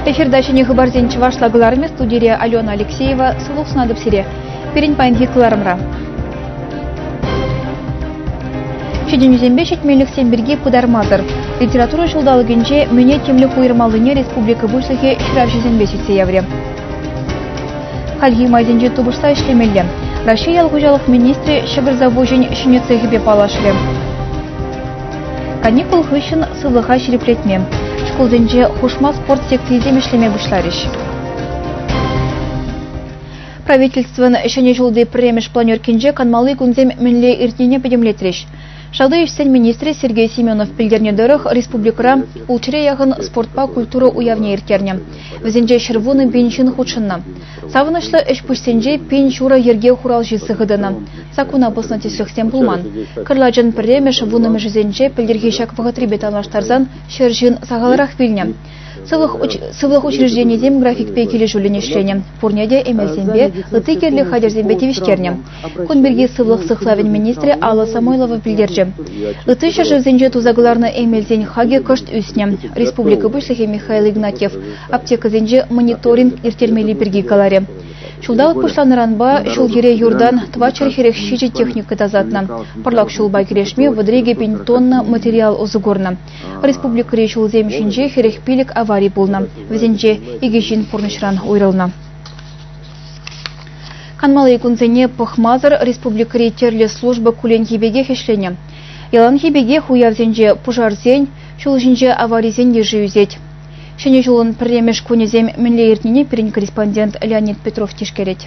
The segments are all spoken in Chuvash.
Эфирта ҫӗнӗ хыпарсен чӑвашла кӑларӑмӗ студире Алена Алексеева. Сывлӑх сунатӑп сире! пирӗн паянхи кӑларӑмра. Ҫитӗнӳсемпе ҫитменлӗхсем пирки пытармасӑр литература ҫулталӑкӗнче мӗне тимлӗх уйӑрмаллине республика Пуҫлӑхӗ ҫыравҫӑсемпе сӳтсе яврӗ. Хальхи майсенче тупӑшса ӗҫлемелле. Раҫҫей ял хуҫалӑх министрӗ ҫӑкӑр завочӗн ҫӗнӗ цехӗпе паллашрӗ. Каникул хыҫҫӑн сывлӑха ҫирӗплетме, шкулсенче хушма спорт секцийӗсем ӗҫлеме пуҫларӗҫ. Правительствӑн Ҫӗнӗ ҫулти пӗрремӗш планеркинче канмалли кунсем мӗнле иртнине пӗтӗмлетрӗҫ. Шалти ӗҫсен министрӗ Сергей Семенов пӗлтернӗ тӑрӑх, республикӑра ултҫӗре яхӑн спортпа культура уявне ирттернӗ. Вӗсенче ҫӗр вунӑ пин ҫын хутшӑннӑ. Савӑнӑҫлӑ ӗҫ-пуҫсенче пин ҫура йӗрке хуралҫи сыхӑ тӑнӑ. Саккуна пӑснӑ тӗслӗхсем пулман. Кӑрлачӑн пӗрремӗш вуннӑмӗшӗсенче пӗлтӗрхи ҫак вӑхӑтрипе танлаштарсан ҫӗр ҫын сахалрах вилнӗ. Сывлӑх учрежденийӗсем графикпе килӗшӳллӗн ӗҫленӗ, пурне те эмелсемпе, ытти кирлӗ хатӗрсемпе тивӗҫтернӗ. Кун пирки сывлӑх сыхлавӗн министрӗ Алла Самойлова пӗлтерчӗ. Ытти ҫӗршывсенче туса кӑларнӑ эмелсен хакӗ кӑшт ӳснӗ. Республика Пуҫлӑхӗ Михаил Игнатьев аптекӑсенче мониторинг ирттермелли пирки каларӗ. Ҫулталӑк пуҫланӑранпа ҫул-йӗре юртан тӑватҫӗр хӗрех ҫичӗ техника тасатнӑ. Пӑрлак ҫулпа кӗрешме вӑтӑр икӗ пин тонна материал усӑ курнӑ. Республикӑри ҫулсем ҫинче хӗрӗх пилӗк авари пулнӑ. Вӗсенче икӗ ҫын пурнӑҫран уйрӑлнӑ. Канмалли кунсене пӑхмасӑр республикӑри тӗрлӗ служба кулленхи пекех ӗҫленӗ. Яланхи пекех уявсенче пушарсен, ҫул ҫинче аварисен йышӗ ӳсет. Ҫӗнӗ ҫулӑн пӗрремӗш кунӗсем мӗнле иртнине пирӗн корреспондент Леонид Петров тишкерет.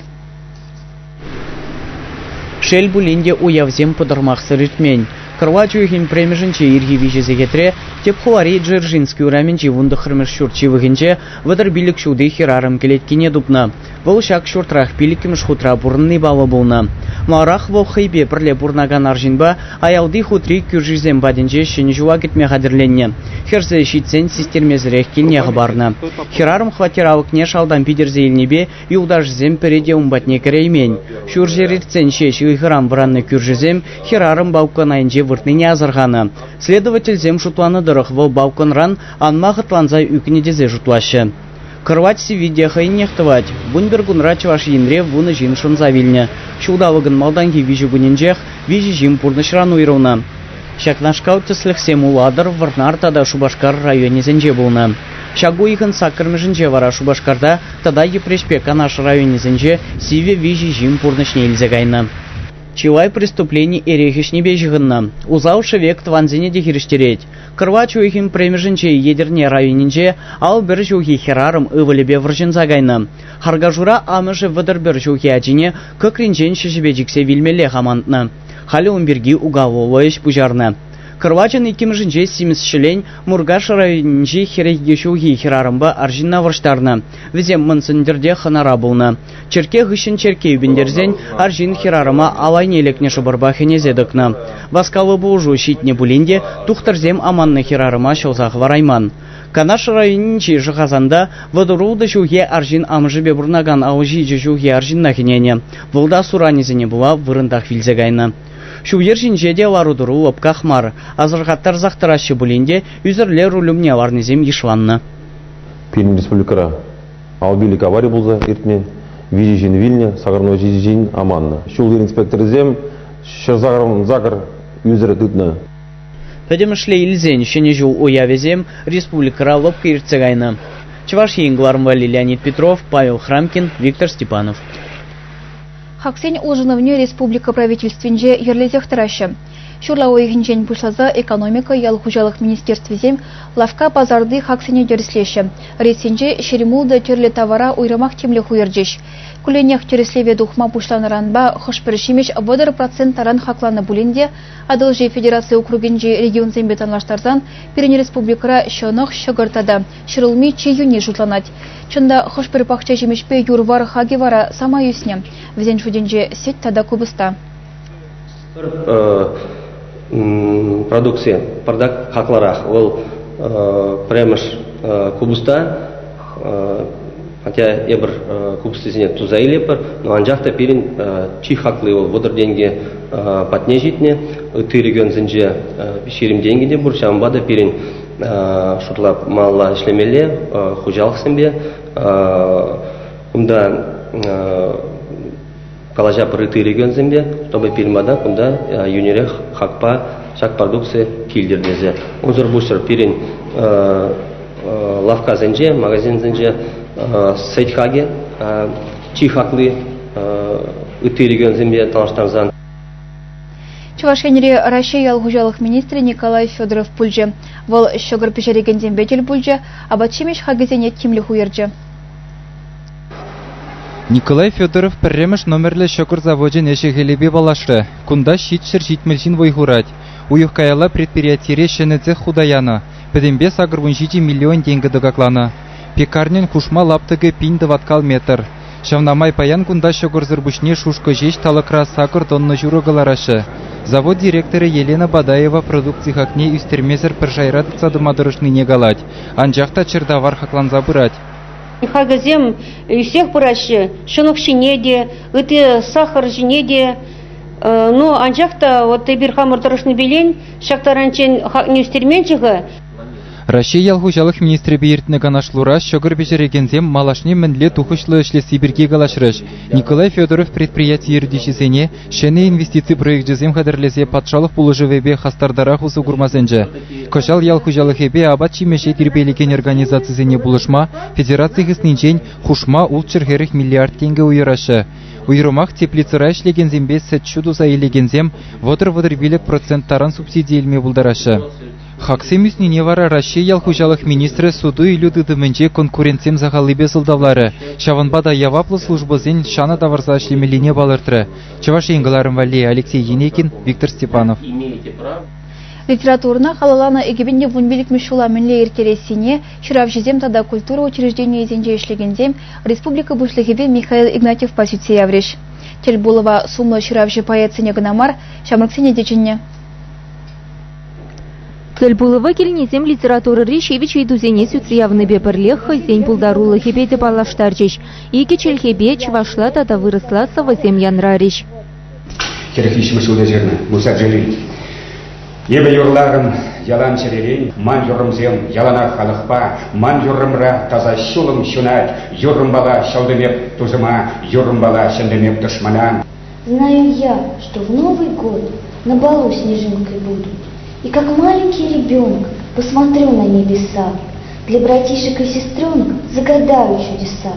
Шел пулин те, уявсем пӑтӑрмахсӑр иртмен. Кӑрлач уйӑхӗн премӗшӗнче ирхи виҫӗ сехетре тӗп хулари Дзержинский урамӗнчи вунтӑхрӑмӗш ҫурт ҫывӑхӗнче вӑтӑр пилӗк ҫути хӗрарӑм кӗлеткине тупнӑ. Вӑл ҫак ҫуртрах пиллӗкмӗш хутра пурӑнни паллӑ пулнӑ. Маларах вӑл хӑйпе пӗрле пурӑнакан арҫынпа аялти хутри кӳршисем патӗнче Ҫӗнӗ ҫула кӗтме хатӗрленнӗ. Хӗрсе ҫитсен систермесӗрех килне хӑпарнӑ. Хӗрарӑм хваттер алӑкне шалтан питӗрсе илнипе Юлташӗсем пӗри те ун патне кӗреймен. Ҫурҫӗр иртсен ҫеҫ ыйхӑран вӑраннӑ кӳршӗсем хӗрарӑм балкон айӗнче выртнине асӑрханӑ. Следовательсем шутланӑ тӑрӑх вӑл балконран анма хӑтланса ӳкнӗ тесе шутлаҫҫӗ. Кӑрвать сивви те хӑйӗннех тӑвать. Вунпӗркунра Чӑваш Енре вунӑ ҫын шӑнса вилнӗ. Ҫулталӑкӑн малтанхи виҫӗ кунӗнчех виҫӗ ҫын пурнӑҫран уйрӑлнӑ. Ҫакнашкал тӗслӗхсем Улатӑр, Вӑрнар тата Шупашкар районӗсенче пулнӑ. Ҫак уйӑхӑн саккӑрмӗшӗнче вара Шупашкарта тата Йӗпреҫпе Канаш районӗсенче сивӗ виҫӗ ҫын пурнӑҫне илсе кайнӑ. Чылай преступлени эрех ӗҫнипе ҫыхӑннӑ. Усал шӗвек тӑвансене те хирӗҫтерет. Кӑрвач уйӑхӗн премӗшӗнче Етӗрне районӗнче ал пӗр ҫухи хӗрарӑм ывӑлӗпе вӑрҫӑнса кайнӑ. Харкашура амӑшӗ вӑтӑр пӗр ҫухи ачине кӑкринчен ҫӗҫӗпе чиксе вилмеллех амантнӑ. Халӗ ун пирки уголовлӑ ӗҫ пуҫарнӑ. Кӑрвачӑн иккӗмӗшӗнче симӗс ҫӗлен Муркаш районӗнчи хӗрӗхе ҫулхи хӗрарӑмпа арҫынна вӑрҫтарнӑ. Вӗсем Мӑн Сӗнтӗрте хӑнара пулнӑ. Черкке хыҫҫӑн черкке ӳпӗнтерсен арҫын хӗрарӑма ал айне лекнӗ шӑпӑрпа хӗнесе тӑкнӑ. Васкавлӑ пулӑшу ҫитнӗ пулин те тухтӑрсем аманнӑ хӗрарӑма ҫӑлса хӑварайман. Канаш районӗнчи Шӑхасанта вӑтӑр-ултӑ ҫулхи арҫын амӑшӗпе пурӑнакан ал ҫичӗ ҫулхи арҫынна хӗненӗ. Вӑл та суранӗсене пула вырӑнтах вилсе кайнӑ. Ҫул-йӗр ҫинче те лару-тӑру лӑпках мар. Асӑрхаттарсах тӑраҫҫӗ пулин те ӳсӗрле руль умне ларнисем йышланнӑ. Пирӗн республикӑра алпилек авари пулса иртмен. Виҫӗ ҫын вилнӗ, сакӑрнӑ ҫичӗ ҫын аманнӑ. Ҫул-йӗр инспекторӗсем ҫӗр сакӑр ӳсӗр тытнӑ. Пӗтӗмӗшле илсен Ҫӗнӗ ҫул уявӗсем республикӑра лӑпкӑ иртсе кайнӑ. Чӑваш Ен кӑларӑмпа Леонид Петров, Павел Храмкин, Виктор Степанов. Хаксен улшӑнӑвне республика Правительствинче йӗрлесех тӑраҫҫӗ. Ҫурла уйӑхӗнчен пуҫласа экономика, ял хуҫалӑх министерствисем лавкка пасарти хаксене тӗрӗслеҫҫӗ. Рейссенче ҫермуллӑ тӗрлӗ тавара уйрӑмах тимлӗх уйӑрчӗҫ. Кулленех тӗрӗслеве тухма пуҫланӑранпа хӑш-пӗр ҫимӗҫ вӑтӑр процент таран хакланӑ пулин те Атӑлҫи федераци округӗнчи регионсемпе танлаштарсан пирӗн республикӑра ҫӑнӑх, ҫӑкӑр тата ҫӗрулми чи йӳнни шутланать. Чӑн та, хӑш-пӗр пахча ҫимӗҫпе юр-вар хакӗ вара самай ӳснӗ. Вӗсен шутӗнче сӗт тата купӑста. продукци пӑртак хаклӑрах. Вӑл пӗрремӗш купӑста Хотя эпир купӑстисене туса илетпӗр, но анчах та пирӗн чи хакли вӑл вӑтӑр тенкӗ патне ҫитнӗ. Ытти регионсенче ҫирӗм тенкӗ те пур, ҫавӑнпа та пирӗн шутламалла ӗҫлемелле хуҫалӑхсемпе. Кунта калаҫа пырытти регионсемпе, чтобы пирмада кунта йӳнерех хакпа ҫак продукци килтӗр тесе. Унсӑр пуҫӑр пирӗн лавккасенче, магазинсенче сӗт хакӗ чи хакли ытти регионсемпе танлаштарсан Чӑваш Енри Раҫҫей ял хуҫалӑх министрӗ Николай Федоров пулчӗ. Вӑл ҫӑкӑр пӗҫерекенсемпе тӗл пулчӗ, апат-ҫимӗҫ хакӗсене тимлӗх уйӑрчӗ. Николай Федоров пӗрремӗш номерлӗ ҫӑкӑр завочӗн ӗҫӗ-хӗлӗпе паллашрӗ. Кунта ҫитҫӗр-ҫитмӗл ҫын вӑй хурать. Уйӑх каялла предприятире ҫӗнӗ цех хута янӑ. Пӗтӗмпе сакӑр вун ҫичӗ миллион тенкӗ тӑкакланӑ. Пекарньӑн хушма лаптӑкӗ пин тӑваткал метр. Ҫавна май паян кунта ҫӑкӑрсӑр пуҫне шушкӑ ҫеҫ талӑкра сакӑр тонна ҫурӑ кӑлараҫҫӗ. Завод директорӗ Елена Бадаева продукци хакне ӳстермесӗр пӗр шайра тытса тӑма тӑрӑшнине калать, анчах та чӗртавар хакланса пырать. Хакӗсем ӳсех пыраҫҫӗ, ҫӑнӑх ҫине те, ытти сахӑр ҫине те. Ну, анчах та вот эпир хамӑр тӑрӑшнипе ҫак таранччен хакне ӳстерменччӗ-ха. Раҫҫей ял хуҫалӑх министрӗпе иртнӗ канашлура ҫӑкӑр пӗҫерекенсем малашне мӗнле тухӑҫлӑ ӗҫлесси пирки калаҫрӗҫ. Николай Федоров предприяти ертӳҫисене ҫӗнӗ инвестици проекчӗсем хатӗрлесе патшалӑх пулӑшӑвӗпе хастартарах усӑ курма сӗнчӗ. Кӑҫал ял хуҫалӑхӗпе апат-ҫимӗҫе тирпейлекен организацисене пулӑшма федераци хыснинчен хушма ултҫӗр-хӗрӗх миллиард тенкӗ уйӑраҫҫӗ. Уйрӑмах теплицӑра ӗҫлекенсемпе сӗт-ҫу туса илекенсем вӑтӑр-вӑтӑр пилӗк процент таран субсиди илме пултараҫҫӗ. Хаксем ӳснине вара Раҫҫей ял хуҫалӑх министрӗ суту-илӳ тытӑмӗнче конкурентсем сахаллипе сӑлтавларӗ. Ҫавӑнпа та яваплӑ службӑсен ҫанӑ тавӑрса ӗҫлемеллине палӑртрӗ. Чӑваш Ен кӑларӑм валли Алексей Енекин, Виктор Степанов. Литературӑна халалланӑ экипен те вунпиллӗкмӗш ҫула мӗнле ирттерессине ҫыравҫӑсем тата культура учрежденийӗсенче ӗҫлекенсем республика Пуҫлӑхӗпе Михаил Игнатьевпа сӳтсе яврӗҫ. Тӗлпулӑва сумлӑ ҫыравҫӑ поэтсене кӑна мар, ҫамрӑксене те чӗннӗ. Тӗлпулӑва килнисем литературӑри ҫивӗч ыйтусене сӳтсе явнипе пӗрлех хӑйсен пултарулӑхӗпе те паллаштарчӗҫ. Икӗ чӗлхепе чӑвашла тата вырӑсла сӑвӑсем янрарӗҫ. Хӗрӗхи ҫывӑх ҫулта ҫырнӑ Муса Джалиль. Эпӗ юрларӑм ялан чӗререн, ман юррӑмсем яланах халӑхпа, ман юррӑмра таса ҫулӑм ҫунать, юррӑмпала ҫӑлтӑм эп тусӑма, юррӑмпала ҫӗнтӗм эп тӑшмана. Знаю я, что в Новый год на балу снежинкой буду, и как маленький ребенок посмотрю на небеса, для братишек и сестренок загадаю чудеса.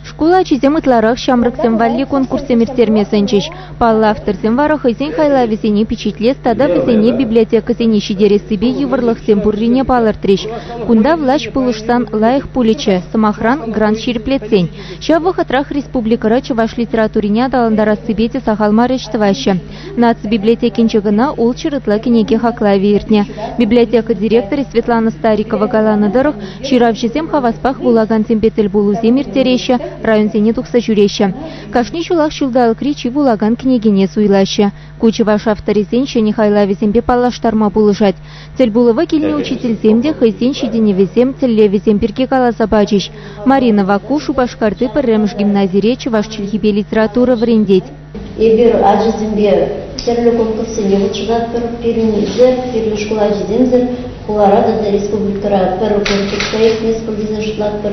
Шкул ачисем ытларах ҫамрӑксем валли конкурссем ирттерме сӗнчӗҫ. Паллӑ авторсем вара хӑйсен хайлавӗсене пичетлес тата вӗсене библиотекӑсене ҫитерессипе йывӑрлӑхсем пуррине палӑртрӗҫ. Кунта влаҫ пулӑшсан лайӑх пулӗччӗ, сӑмахран, грант ҫирӗплетсен. Ҫав вӑхӑтрах республикӑра чӑваш литературине аталантарассипе те сахал мар ӗҫ тӑваҫҫӗ. Наци библиотекинче кӑна ултҫыр ытла кӗнеке хаклавӗ иртнӗ. Библиотека директорӗ Светлана Старикова каланӑ тӑрӑх, ҫыравҫӑсем хаваспах вулакансемпе тӗл пулусем ирттереҫҫӗ, районсене тухса ҫӳреҫҫӗ. Кашни ҫулах ҫулталӑкри чи вулакан кӗнекене суйлаҫҫӗ. Ку чӑваш авторӗсен ҫӗнӗ хайлавӗсемпе паллаштарма пулӑшать. Тӗлпулӑва килнӗ учительсем те хӑйсен ҫитӗнӗвӗсем, тӗллевӗсем пирки каласа пачӗҫ. Марина Ваку Шупашкарти пӗрремӗш гимназире чӑваш чӗлхипе литература вӗрентет. Эпир ачасемпе тӗрлӗ конкурссене хутшӑнатпӑр. Пирӗн ӗҫӗ, пирӗн шкул ачисемсӗр хулара тата республикӑра пӗр конкурсра иртмест пуль тесе шутлатпӑр.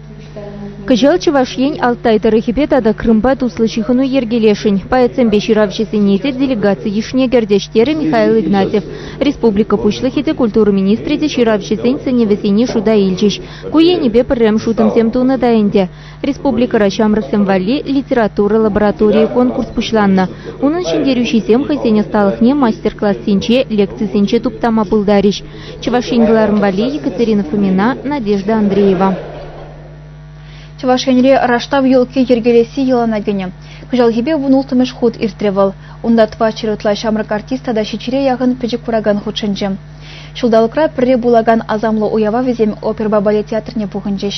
Кӑҫал Чӑваш Ен Алтай тӑрӑхӗпе тата Крымпа туслӑ ҫыхӑну йӗркелесшӗн поэтсемпе ҫыравҫӑсене те делегаци йышне кӗртӗҫ, терӗ Михаил Игнатьев. Республика Пуҫлӑхӗ те, культура министрӗ те ҫыравҫӑсен сӗнӗвӗсене шута илчӗҫ. Ку енӗпе пӗрремӗш утӑмсем тунӑ та ӗнтӗ. Республикӑра ҫамрӑксем валли литература лабораторийӗ конкурс пуҫланнӑ. Унӑн ҫӗнтерӳҫисем хӑйсен ӑсталӑхне мастер-классенче, лекцисенче туптама пултарӗҫ. Чӑваш Ен кӑларӑм валли Екатерина Фомина, Надежда Андреева. Чӑваш Енре раштав елки йӗркелесси йӑлана кӗнӗ. Кӑҫалхипе вун улттӑмӗш хут иртрӗ вӑл. Унта тӑватҫӗр ытла ҫамрӑк артист тата ҫиччӗре яхӑн пӗчӗк куракан хутшӑнчӗ. Ҫулталӑкра пӗрре пулакан асамлӑ уява вӗсем оперӑпа балет театрне пухӑнчӗҫ.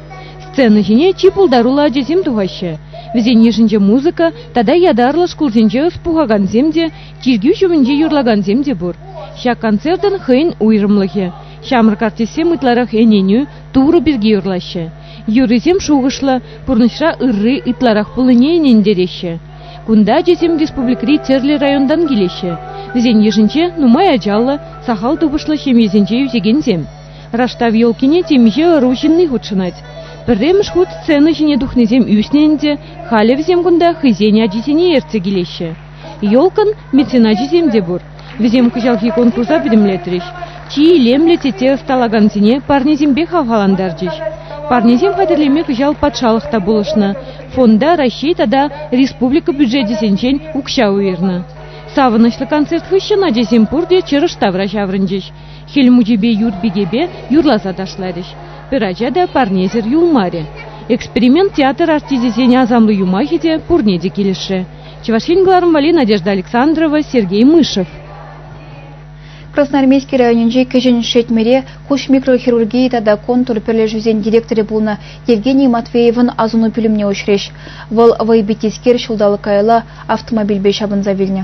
Сцена ҫине чи пултаруллӑ ачасем тухаҫҫӗ. Вӗсен йышӗнче музыка тата ятарлӑ шкулсенче ӑс пухакансем те, чиркӳ ҫумӗнче юрлакансем те пур. Ҫак концертӑн хӑйӗн уйрӑмлӑхӗ. Ҫамрӑк артистсем ытларах ӗненӳ, Турӑ пирки юрлаҫҫӗ. Юррисем шухӑшлӑ, пурнӑҫра ырри ытларах пулнине ӗнентереҫҫӗ. Кунта ачасем республикӑри тӗрлӗ районтан килеҫҫӗ. Вӗсен йышӗнче нумай ачаллӑ, сахал тупӑшлӑ ҫемьесенче ӳсекенсем. Раштав елкине темиҫе ӑру ҫынни хутшӑнать. Пӗрремӗш хут сцена ҫине тухнисем ӳснӗ ӗнтӗ, халӗ вӗсем кунта хӑйсен ачисене ертсе килеҫҫӗ. Елкӑн меценачӗсем те пур. Вӗсем кӑҫалхи конкурса пӗтӗмлетрӗҫ. Чи илемлӗ тете ӑсталакансене парнесемпе хавхалантарчӗҫ. Парнесем хатӗрлеме кӑҫал патшалӑх та пулӑшнӑ. Фонда Раҫҫей тата республика бюджечӗсенчен укҫа уйӑрнӑ. Савӑнӑҫлӑ концерт хыҫҫӑн ачасем пурте чӑрӑш тавра ҫаврӑнчӗҫ. Хӗл мучипе юр пикепе юрласа ташларӗҫ. Пӗр ача та парнесӗр юлмарӗ. Эксперимент театр артисчӗсен асамлӑ юмахӗ те пурне те килӗшрӗ. Чӑваш Ен кӑларӑм валли Надежда Александрова, Сергей Мышев. Красноармейски районӗнчи Кӗҫӗн Шетмӗре хуҫ микрохирургии тата контур пӗрлешӳсен директорӗ пулнӑ Евгений Матвеевӑн асӑну пӳлӗмне уҫрӗҫ. Вӑл вӑйпитискер ҫулталӑк каялла автомобильпе ҫапӑнса вилнӗ.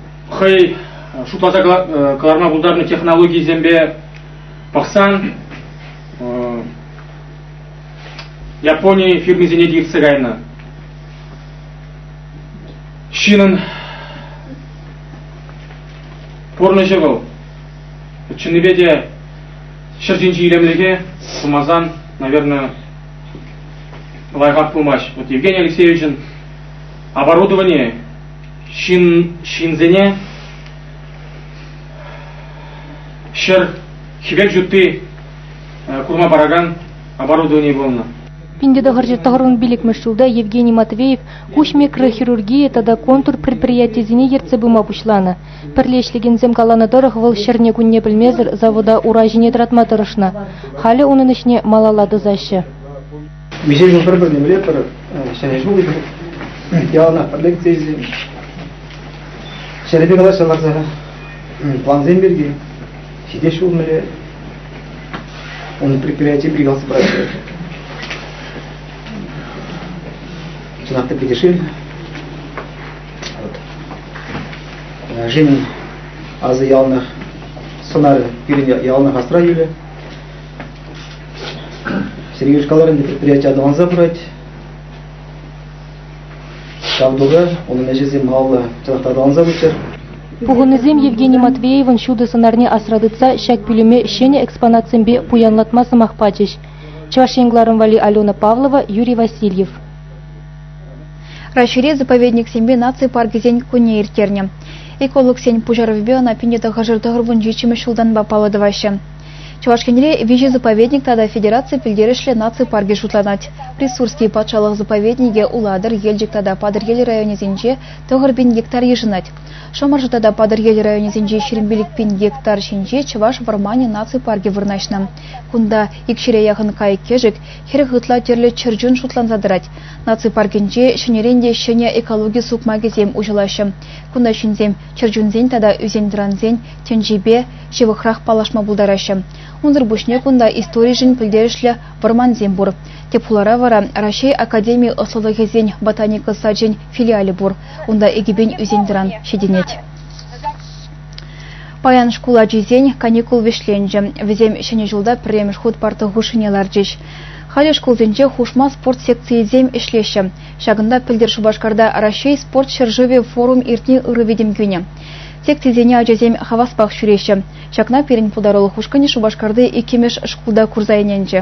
хӑй шутласа кӑларма пултарнӑ технологийӗсемпе пӑхсан Япони фирмисене те иртсе кайнӑ. Ҫынӑн пурнӑҫӗ вӑл чӑннипе те ҫӗр ҫинчи илемлӗхе сумасан, наверное, лайӑхах пулмасть. Вот Евгений Алексеевичӑн оборудование ҫын ҫынсене ҫӗр хӗвел ҫутти курма паракан оборудовани пулнӑ. Пинте тӑхӑрҫӑ тӑхӑрӑн пиллӗкмӗш ҫулта Евгений Матвеев куҫ микрохирургийӗ тата контур предприятийӗсене ертсе пыма пуҫланӑ. Пӗрле ӗҫлекенсем каланӑ тӑрӑх, вӑл ҫӗрне-кунне пӗлмесӗр завода ура ҫине тӑратма тӑрӑшнӑ. Халӗ унӑн ӗҫне малалла тӑсаҫҫӗ. Виҫе ҫул пӗр пӗрлемелле тӑрӑх ҫӗнӗ ҫул яланах пӗрле кӗтсе илсен. Ҫӗрӗпе калаҫса ларса плансем пирки ҫитес ҫул мӗле унӑн предприятие пригалса пыраҫҫӗ. Чӑнах та питӗ шел. Женин азы яланах сӑнарӗ пирӗн яланах асра юлӗ. Сергей Шкаларин предприяти аталанса пырать. Ҫав тука, унӑн ӗҫӗсем малалла чӑнах та аталанса пыччӑр. Пухӑннисем Евгений Матвеевӑн ҫутӑ сӑнарне асра тытса ҫак пӳлӗме ҫӗнӗ экспонатсемпе пуянлатма сӑмах пачӗҫ. Чӑваш Ен кларӑн валли Алена Павлова, Юрий Васильев. Раҫҫейре заповедниксемпе наци паркӗсен кунне ирттернӗ. Экологсен пуҫарӑвӗпе ӑна пин тӑхӑршар тӑхӑр вунҫиччӗмӗш ҫултанпа паллӑ тӑваҫҫӗ. Чӑваш Енре виҫӗ заповедник тата федераци пӗлтерӗшлӗ наци паркӗ шутланать. Присурский патшалӑх заповедникӗ Улатӑр, Елчӗк тата Патӑрьел районӗсенче тӑхӑр пин гектар йышӑнать. Шӑмӑршӑ тата Патӑрьел районӗсенче ҫирӗмпилӗк пин гектар ҫинче Чӑваш вӑрманӗ наци паркӗ вырнаҫнӑ. Кунта икҫӗре яхӑн кайӑк-кӗшӗк, хӗрӗх ытла тӗрлӗ чӗрчун шутланса тӑрать. Наци паркӗнче ҫӗнӗрен те ҫӗнӗ экологи сукмакӗсем уҫӑлаҫҫӗ. Кунта ҫынсем чӗрчунсен тата ӳсен-тӑрансен тӗнчипе ҫывӑхрах паллашма пултараҫҫӗ. Унсӑр пуҫне кунта историшӗн пӗлтерӗшлӗ вӑрмансем пур. Тӗп хулара вара Раҫҫей академи ӑслӑлӑхӗсен ботаника сачӗн филиалӗ пур. Унта экипен ӳсен-тӑран ҫитӗнет. Паян шкул ачисен каникул вӗҫленчӗ. Вӗсем Ҫӗнӗ ҫулта пӗрремӗш хут парта хушшине ларчӗҫ. Халӗ шкулсенче хушма спорт секцийӗсем ӗҫлеҫҫӗ. Ҫакӑнта пӗлтӗр Шупашкарта Раҫҫей спорт ҫӗршывӗ форум иртни ырӑ витӗм кӳнӗ. Секцисене ачасем хаваспах ҫӳреҫҫӗ. Ҫакна пирӗн пултарулӑх ушкӑнӗ Шупашкарти иккӗмӗш шкулта курса ӗненчӗ.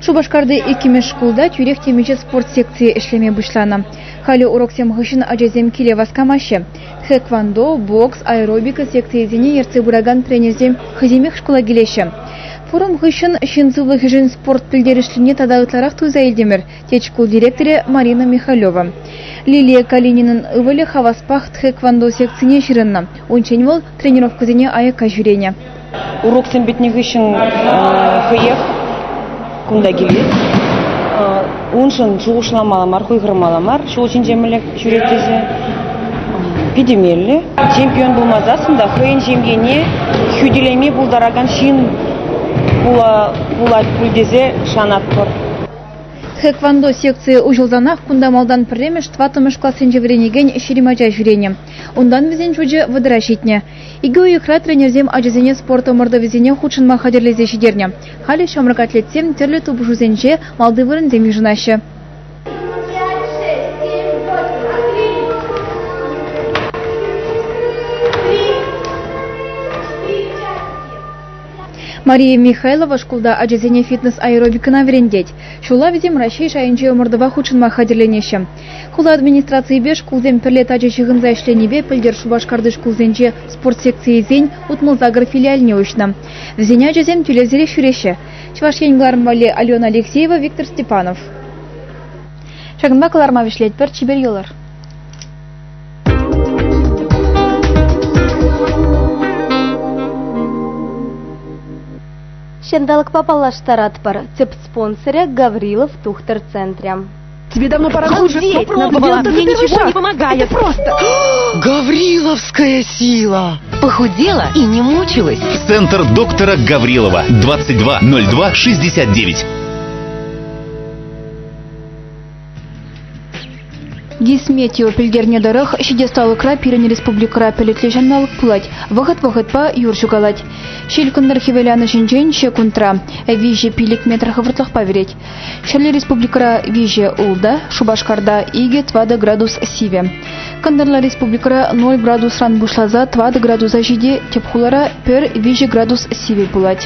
Шупашкарти иккӗмӗш шкулта тӳрех темиҫе спорт секцийӗ ӗҫлеме пуҫланӑ. Халӗ уроксем хыҫҫӑн ачасем киле васкамаҫҫӗ. Тхэквондо, бокс, аэробика секцийӗсене ертсе пыракан тренерсем хӑйсемех шкула килеҫҫӗ. Форум хыҫҫӑн ҫын сывлӑхӗшӗн спорт пӗлтерӗшлине тата ытларах туйса илтӗмӗр, тет шкул директорӗ Марина Михалева. Лилия Калининӑн ывӑлӗ хаваспах тхэквондо секцине ҫырӑннӑ. Унччен вӑл тренировкӑсене аякка ҫӳренӗ. Уроксем пӗтнӗ хыҫҫӑн хӑех кунта килет. Уншӑн шухӑшламалла мар, хуйхӑрмалла мар. Ҫул ҫинче мӗнле ҫӳрет тесе питӗ меллӗ. Чемпион пулмасассӑн та хӑйӗн ҫемьене хӳтӗлеме пултаракан ҫын пулать пуль тесе шанатпӑр. Хэквондо секцийӗ уҫӑлсанах кунта малтан пӗрремӗш, тӑваттӑмӗш классенче вӗренекен ҫирӗм ача ҫӳренӗ. Унтан вӗсен шучӗ вӑтӑра ҫитнӗ. Икӗ уйӑхра тренерсем ачасене спорт ӑмӑртӑвӗсене хутшӑнма хатӗрлесе ҫитернӗ. Халӗ ҫамрӑк атлетсем тӗрлӗ тупӑшусенче малти вырӑнсем йышӑнаҫҫӗ. Мария Михайлова шкулта ачасене фитнес-аэробикӑна вӗрентет. Ҫула вӗсем Раҫҫей шайӗнче ӑмӑртӑва хутшӑнма хатӗрленеҫҫӗ. Хула администрацийӗпе шкулсем пӗрле тачӑ ҫыхӑнса ӗҫленипе пӗлтӗр Шупашкарти шкулсенче спорт секцийӗсен утмӑл-сакӑр филиалне уҫнӑ. Вӗсен ачасем тӳлевсерех ҫӳреҫҫӗ. Чӑваш Ен кӑлармалли Алена Алексеева, Виктор Степанов. Ҫакӑнпа кӑларма вӗҫлетпӗр, чипер йӑлӑр! Ҫанталӑкпа паллаштаратпӑр. Тӗп спонсорӗ Гаврилов тухтӑр центрӗ. Тебе давно пора Обалдеть! Надо было, мне ничего не помогает. Это просто... Гавриловская сила! Похудела и не мучилась. Центр доктора Гаврилова. 2202 69. Дисметео пӗлтернӗ тӑрӑх, ҫитес-талӑкра пирӗн республикӑра пӗлӗтлӗ ҫанталӑк пулать. Вӑхӑт-вӑхӑтпа юр ҫукалать. Ҫилкӑнтӑр хӗвеланӑҫӗнчен ҫекундра виҫӗ пилӗк метр хӑвӑртлӑхпа вӗрет. Ҫӗрле республикӑра виҫӗ ултӑ, Шупашкарта икӗ тӑватӑ градус сивӗ. Кӑнтӑрла республикӑра 0 градусран пуҫласа тӑватӑ градуса ҫити, тӗп хулара пӗр виҫӗ градус сивӗ пулать.